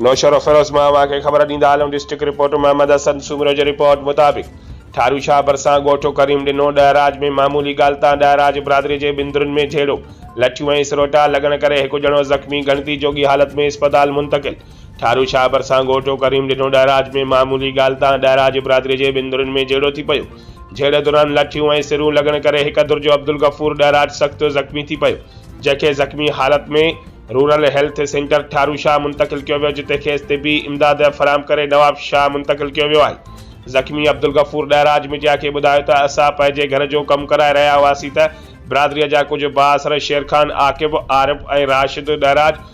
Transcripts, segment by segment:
نوشهروفيروز مان اوهان کي خبر ڏيندا هلون ڊسٽرڪٽ رپورٽ محمد حسن سومرو جي رپورٽ مطابق ٺارو شاهه ڀرسان ڳوٺ ڪريم ڏنو ڏهراج ۾ معمولي ڳالهه تان ڏهراج برادري جي ٻن ڌرين ۾ جهيڙو لٺيون ۽ سروٽا لڳڻ ڪري هڪ ڄڻو زخمي ڳڻتي جوڳي حالت ۾ اسپتال منتقل ٺارو شاهه ڀرسان گهوٽو ڪريم ڏنو ڏهراج ۾ معمولي ڳالهه تان ڏهراج برادري جي ٻن ڌرين ۾ جهيڙو ٿي پيو جهيڙي دوران لٺيون ۽ سرون لڳڻ ڪري هڪ ڌر جو عبدالغفور ڏهراج سخت زخمي ٿي پيو جنهن کي زخمي حالت ۾ rural health centre Tharo Shah منتقل ڪيو ويو جتي کيس طبي امداد فراهم ڪري نواب شاهه منتقل ڪيو ويو آهي زخمي عبدالغفور ڏهراج ميڊيا کي ٻڌايو ته اسان پنهنجي گهر جو ڪم ڪرائي رهيا هئاسين ته برادري جا ڪجهه بااثر شيرخان عاقب عارف ۽ راشد ڏهراج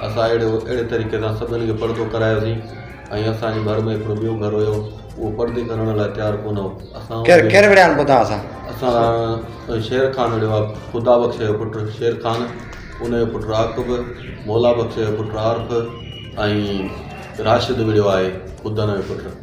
اسان اهڙي اهڙي طريقي سان سڀني کي پردو ڪرايوسين ۽ اسان جي ڀر ۾ هڪڙو ٻيو گهر هيو اهو پردي ڪرڻ لاء تيار ڪونه هو اسان ڪير ڪير وڙهيان پوء توهان سان اسان شير خان وڙهيو آ خدا بخش جو پٽ شير خان ان جو پٽ عاقب مولا بخش جو پٽ عارف ۽ راشد وڙهيو آهي ٻڌڻ جو پٽ